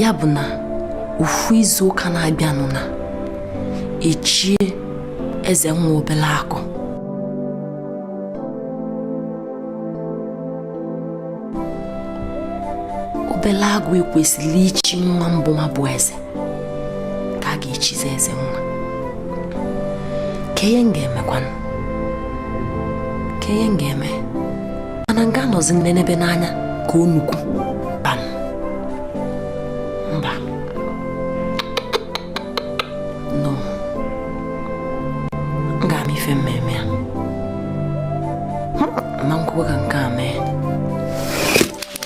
ya bụ na ofu izu ụka na-abịanụ na echie eze nwa obele agụ obele agụ e kwesịrị ichi nwa mbụ nwa bụ eze ka a ga-echizi eze nna kee ihe m ga-emekwanụ kee ihe m ga-eme mana m ga-anọzi na-enebe n'anya ka o nnukwu bam mba no m ga-ama ife m mee ama m ekwe ka nke a mee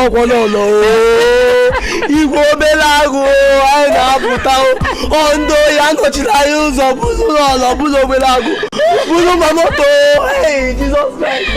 ọ kwa lọlọ igwe obere agụ anyị na-apụta ndị ohi anọchiri anyị ụzọ buru lọlọ buru obere agụ buru ma moto Jizọs Kraịst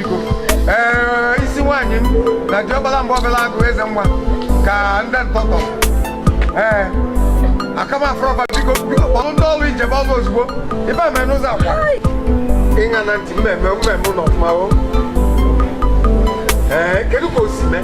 ee ị sị nwaanyị m na diọkpara m bụ obele agụ eze nwa ka ndị ntọtọ ee akamafrọba biko biko kpọrọ ndị ọrụ ijebe ọrụ ozugbo ibe eme n'ụzọ akwa ịṅa na ntị mmemme mmemme ụlọ ọfụma o ee kedu ka o si mee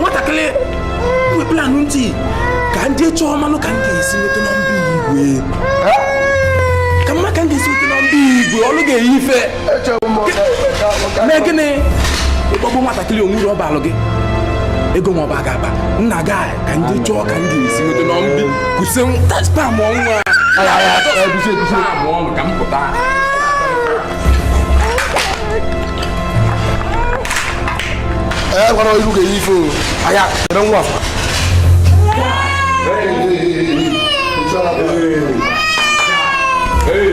nwatakịrị weplanụ ntị ka m je chọọ manụ ka m ga-esi nweta nọmba igwe ka m ma ka m ga-esi nweta nọmba igwe ọnụ ga-eyi ife mee gịnị ịkpọgbu nwatakịrị onwuru ọba alụ gị ego nwa ọba ga-aba nna gị ka ndị chọọ ka ndị esi nweta na mbi kwụsị spam ọnwa ka m pụta ẹ gbọ́dọ̀ irú kẹ yìí fò àyà ẹ̀rọ ń wà fún. Hey!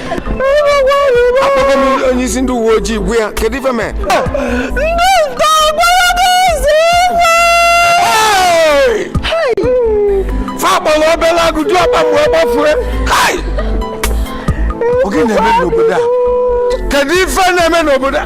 akpọgo m onye isi ndị uwe ojii gwa ya kedu ife mee fa kpọrọ obere agụ diọkpa m gbafue ọ gịnị na-eme n'obodo a kedu ife na-eme n'obodo a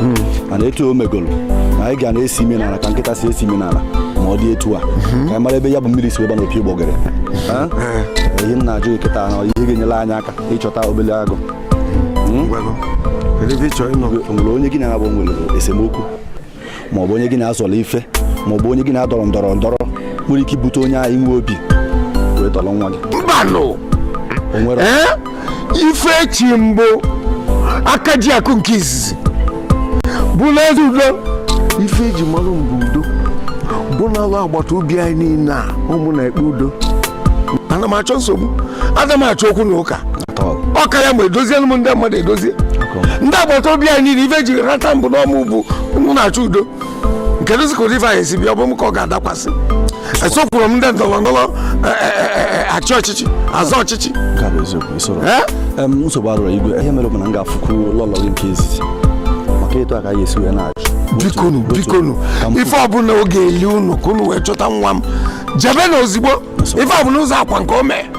hmm, mana etu o megolo na anyị ga na-esi imi n'ala ka nkịta si esi imi n'ala ma ọ dị etu a hmm. ka anyị mara ebe ya bụ mmiri si wee baa na opi ụgbọgụrụ ihe m na-ajụ kịta na ihe ga-enyere anyị aka ịchọta obele agụ hmm? o nwere onye gị na ya nabọ nwere esemokwu ma ọ bụ onye gị na ya zọrọ ife ma ọ bụ onye gị na ya dọrọ ndọrọ ndọrọ nwere ike ibute onye ahụ inwe obi wee tọrọ nwa gị ife e chi m bụ aka ji akụ nke izizi bụlụ eze udo ife eji malụ m bụ udo bụ n'alụ agbata obi anyị niile a ọ mụ na-ekpe udo ana m achọ nsogbu ana m achọ okwu na ụka ọ karịa ma edozielu m ndị mmadụ edozie ndị agbata obi anyị niile ife eji rọta m bụ na ọ mụ bụ ọ mụ na-achọ udo kedụzị ka ụdị ife a ya-esi bịa ọ bụ m ka ọ ga-adakwasị esokwurọ m ndị ndọrọ ndọrọ e, e, e, achị ọchịchị azọ ọchịchị nke a bụ eziokwu isorọ Em, nsogbu adịrọ igwe ihe mere bụ na m ga-afụkwu lọlọ gị nke izizi maka ịtụ aka ya esi wee na-achụ bikonu bikonu ife ọbụla ọ ga-eli unu ka unu wee chọta nwa m jebenụ ozigbo ife ọbụla ụzọ akwa nke o mee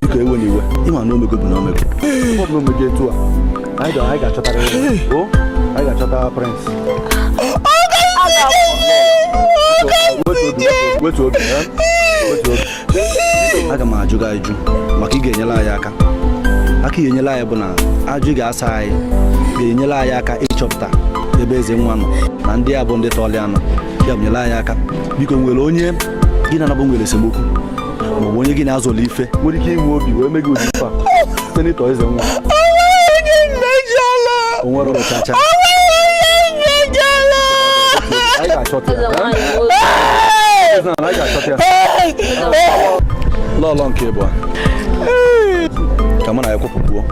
biko ewena iwe ịma na o mego bụ na o mego ọ bụ na o mego etu a anyị ga-achọta ya anyị ga-achọta prịnsị wetu obi aga m ajụ gị ajụjụ maka ị ga-enyere anyị aka aka ị ga-enyere anyị bụ na ajụjụ ị ga-asa anyị ga-enyere anyị aka ịchọpụta ebe eze nwa nọ na ndị a bụ ndị tọọlụ ya nọ ya nyere anyị aka biko o nwere onye gị na ya nabọ nwere esemokwu maọbụ onye gị na ya zọlọ ife nwere ike inwe obi wee mee gị ụdị ife a site n'ịtọ eze nwa onwerọ chacha anyị ga-achọta ya Eze nwaanyị a ga-achọta ya lọlọ nke ịbụa ka mụ na ya kwụpụkwuo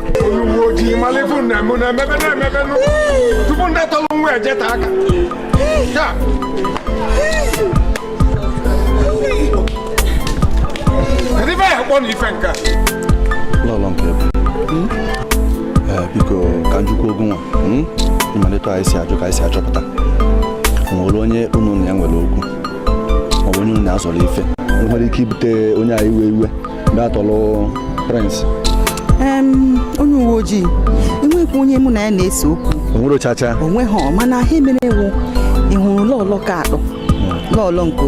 uwe ojii malụ ife unu na-eme na-emebe na-emebe tupu ndị tọrọ nwa ejeta aka lọlọ nke ịbụa ee biko ka m jụkwuo gị nwa mm? ịma na etu anyị si ajụ ka anyị si achọpụta o nwere onye unu na ya nwere okwu maọbụ onye unu na ya zọrọ ife nwere ike ibute onye ahụ iwe iwe gaa tọlụ Prince onye uwe ojii enweghịkwa onye mụ na ya na-ese okwu onwerọ chacha onweghị mana ihe mere wụ ị hụrụ lọọlọ nke atọ hmm. lọọlọ nke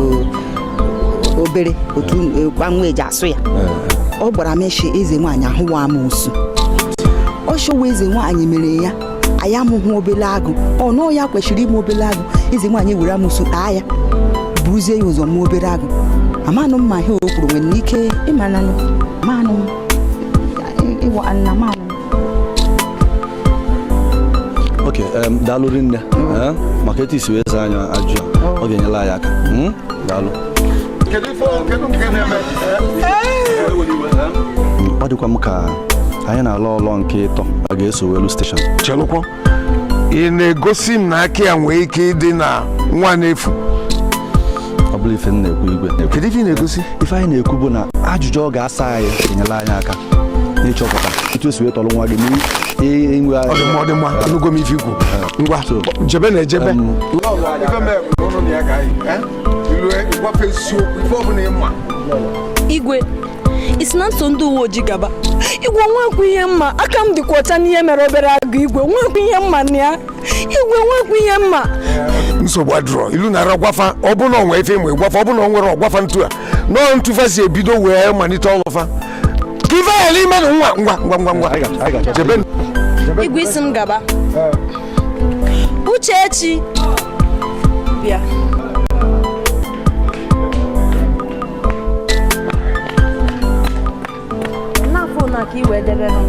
obere otu gbanwe eji asụ ya hmm. ọ gbara meshi eze nwaanyị ahụ wụ amosu ọ chọwa eze nwaanyị mere ya anyị amụghị obele agụ na ọ ya kwesịrị ịmụ obele agụ eze nwaanyị were amosu taa ya buruzie ya ụzọ mụọ obere agụ amanụ m ma ihe o kwuru nwere ike ịmananụ manụ ịwa nna manụ ok daalụ rinne maka etu i si wee zaa anyị ajụjụ ọ ga-enyela anyị aka hmm? daalụ ọ dịkwa m ka anyị na lọọlọ nke ịtọ a ga-eso welu steshọn chelụkwa ị na-egosi m na aka ya nwee ike ịdị na nwa na-efu ọ bụrọ ife m na-ekwu igwe kedu ife ị na-egosi ife anyị na-ekwu bụ na ajụjụ ọ ga-asa anyị enyela anyị aka n'ịchọpụta etu e si wee tọrọ nwa gị n'inwe ọ dị mma ọ dị mma anụgo m ife i kwu ngwa jebe na ejebe igwe ị sị na m so ndị uwe ojii gaba igwe nwekwu ihe m ma aka m dịkwa ọcha n'ihe mere obere agụ igwe nwekwu ihe m ma na ya igwe nwekwu ihe m ma nsogbu adịrọ i lu na-ara gwa fa ọ bụ na o nwe ife ị ma ị gwa fa ọ bụ na o nwerọ gwa fa etu a nọọ etu fa si ebido wee malite ọlụ fa ka ife ghara ime na nwa ngwa ngwa ngwa ngwa jebe igwe ị sị m gaba Uchechi bịa n'afọ na ka iwe debe ha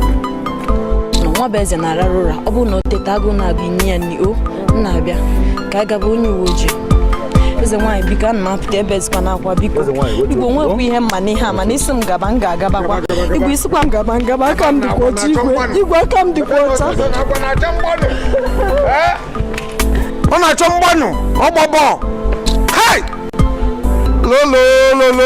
Nwabueze na-arara ụra ọ bụrụ na o teta agụụ na-abịa i nye ya nri o m na-abịa ka a gaba onye uwe ojii eze nwaanyị biko ana m apụta ebe ezikwa na akwa biko igwe nwekwa ihe m ma n'ihe a mana ị sị m gaba m ga-agabakwa igwe ị sịkwa m gaba m gaba aka m dịkwa ọcha igwe igwe aka m dịkwa ọcha ọ na-achọ mgbanụ ọgbọbọ hai lolololo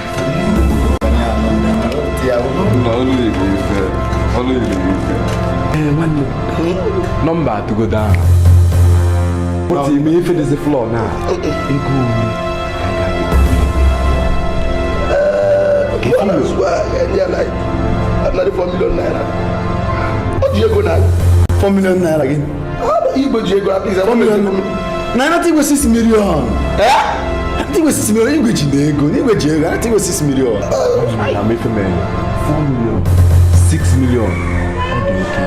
nọmba atụgodo ahụ otu ime ife dịzi flọ na ego ori ọ ji ego na 4 million naira gị igwe ji ego akpa ize na anata igwe 6 million anata igwe 6 million igwe ji na ego na igwe ji ego anata igwe 6 million na mefe m 4 million 6 million ọ dị oke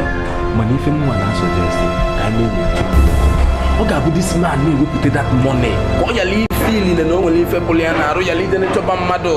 mana ife m na-a suggest ka anyị na-enyocha ọ ga-abụ this man na-ewepụta that money ka ọ yala ife niile na o nwere ife pụrụ ya n'arụ yala ịdị na-achọba mmadụ